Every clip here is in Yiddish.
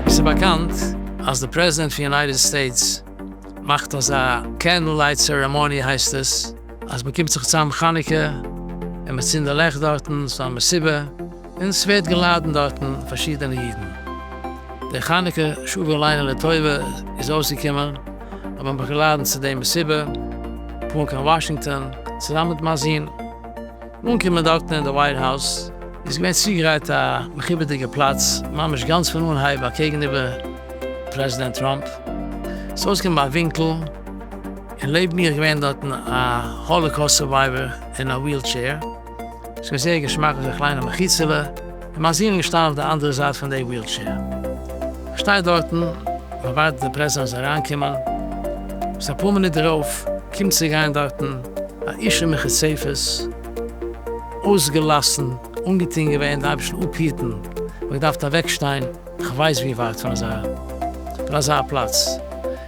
ס'איז באקאנט אז די פרעזידענט פון יונייטעד סטעיטס מאכט אזא קענדל לייט צערעמאני הייסט עס, אז מ'קומט זיך צוזאם חנוכה און מ'צינדט די לעכט דארטן, ס'איז א מסיבה און ס'ווערט געלאדענט דארטן פארשידענע אידן. די חנוכה שבעה לילה לטובה איז אויסגעקומען, האט מען מיך געלאדענט צו די מסיבה, פארן קיין וואשינגטאן צוזאמען מיט מיין זון. אנקומען דארטן אין די ווייט האוז, איז געווען צוגעגרייט א מכובד'דיגע פלאץ, ממש גאנץ פון אנהייב אקעגן איבער פרעזידענט טראמפ. ס'איז אויסגעקומען ביי א ווינקל, און לעבן מיר איז געווען דארטן א האלאקאוסט סורווייווער אין א וויל טשעיר. עס איז געווען זייער געשמאק אזוי קליין א מחיצה'לע, און מיין זוהן איז געשטאנען אויף די אנדערע זייט פון די ווילטשעיר. איך שטיי דארטן, איך ווארט די פרעזענס אריינקומען, ביז אפאר מינוט דערויף קומט צו גיין דארטן א איש אין מחיצות, אויסגעלאסן, אנגעטון געווען די אייבערשטן אפהיטן, איך האב געדארפט אוועק שטיין, איך ווייס ווי ווייט פון אזא פון אזא פלאץ,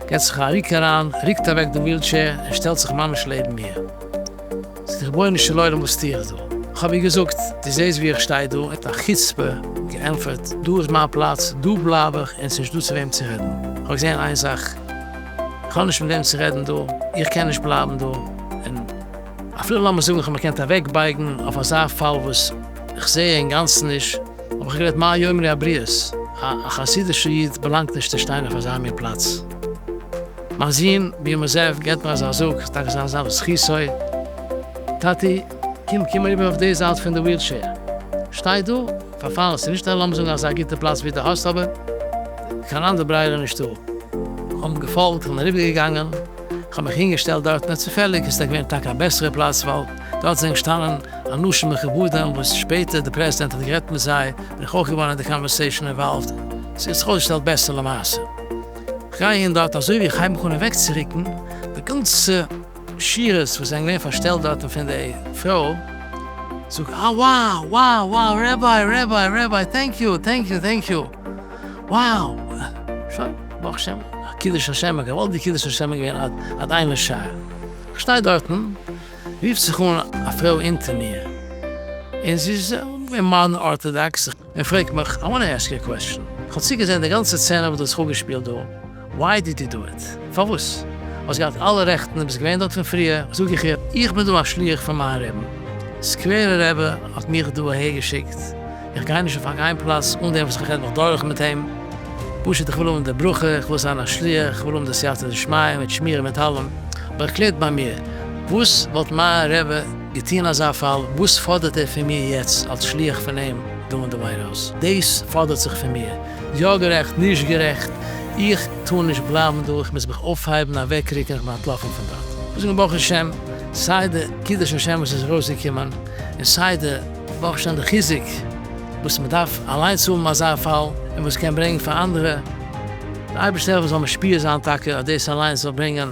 געט זיך א ריק אריין, ריקט אוועק די ווילטשעיר און שטעלט זיך ממש לעבן מיר. זאגט ער, רבונו של עולם וואס טו איך דא? כ'האב איר געזאגט, דו זעסט ווי איך שטיי דא? מיט א חוצפה געענטפערט, דא איז מיין פלאץ, דא בלייב איך, און ס'נישט דא צו וועם צו רעדן. כ'האב געזען איין זאך, כ'האב נישט מיט וועם צו רעדן דא, איך קען נישט בלייבן דא, און אפילו לאמיר זאגן כ'האב מיר געקענט אוועקבייגן אויף אזא פאל וואס כ'זע אינגאנצן נישט, האב איך גערעדט מה יאמרי הבריות, א חסידישער איד באלאנגט נישט צו שטיין אויף אזא מין פלאץ. מיין זון ביהמ ס געט מיר אזא זאג, ס'איז טאקע זיין זאב זכותו, טאטי, קום קום אריבער אויף די זייט פון די ווילטשעיר, שטיי דא, פארפאלן, ס'איז נישט א לאמיר זאגן אזא גוטע פלאץ ווי דו האסט אבער קיין אנדער ברירה נישטא. כ'האב אים געפאלגט, כ'בין אריבערגעגאנגען, כ'האב מיך אינגעשטעלט דארט, נאר צופעליג איז עס געווען טאקע א בעסערע פלאץ ווייל דארט זענען געשטאנען אנשים מכובדים וואס שפעטער די פרעזידענט האט גערעדט מיט זיי, בין איך אויך געווארן אין די קאנווערסעישאן אינוואלווד, ס'האט זיך אויסגעשטעלט בעסער למעשה. גייען דארט אזוי ווי איך הייב מיך אן אוועקצוריקן, די גאנצע שירות וואס זענען געווען פארשטעלט דארטן פון די פרוי זאגט אה וואו וואו וואו רעביי רעביי רעביי טענק יו טענק יו טענק יו וואו שוין ברוך השם קידוש השם געוואלד די קידוש השם איז געווען עד עד אין לשער איך שטיי דארטן רופט זיך אן א פרוי אונטער מיר און זי איז א מאדערן ארטאדאקס. ער פרעגט מיך, I wanna ask you a question, כ'האב צוגעזען די גאנצע סצענע וואס דו האסט אפגעשפילט דא, why did you do it? פארוואס? האסט געהאט אלע רעכטן און ביסט געווען דארט פון פריער, זאג איך איר, איך בין דא א שליח פון מיין רעבן, סקווערע רעבע האט מיך דא אהער געשיקט, איך גיי נישט אויף א גיין פלאץ אן דעם וואס איך רעד מיך דורך מיט אים, פשוט איך וויל האבן די ברכה, איך וויל זיין א שליח, איך וויל האבן די סייעתא דשמיא מיט שמירה מיט אלעם, אבער ערקלערט ביי מיר, וואס וואלט מיין רעבע. געטון אזא פאל, וואס פאדערט ער פון מיר יעצט אלס שליח פון אים דא אין די ווייט האוז? דאס פאדערט זיך פון מיר, יא גערעכט, נישט גערעכט, איך טאר נישט בלייבן דא, איך מוז מיך אויפהייבן, אוועקרוקן, איך בין אנטלאפן פון דארט. איך זאג אים ברוך השם, סיי די קידוש השם וואס איז ארויסגעקומען, און סיי די ברוך השם די חיזוק וואס מען דארף אליינס האבן אזא פאל, און וואס קען ברענגען פאר אנדערע, די אייבערשטער זאל משפיע זיין טאקע אז דאס אליינס זאל ברענגען.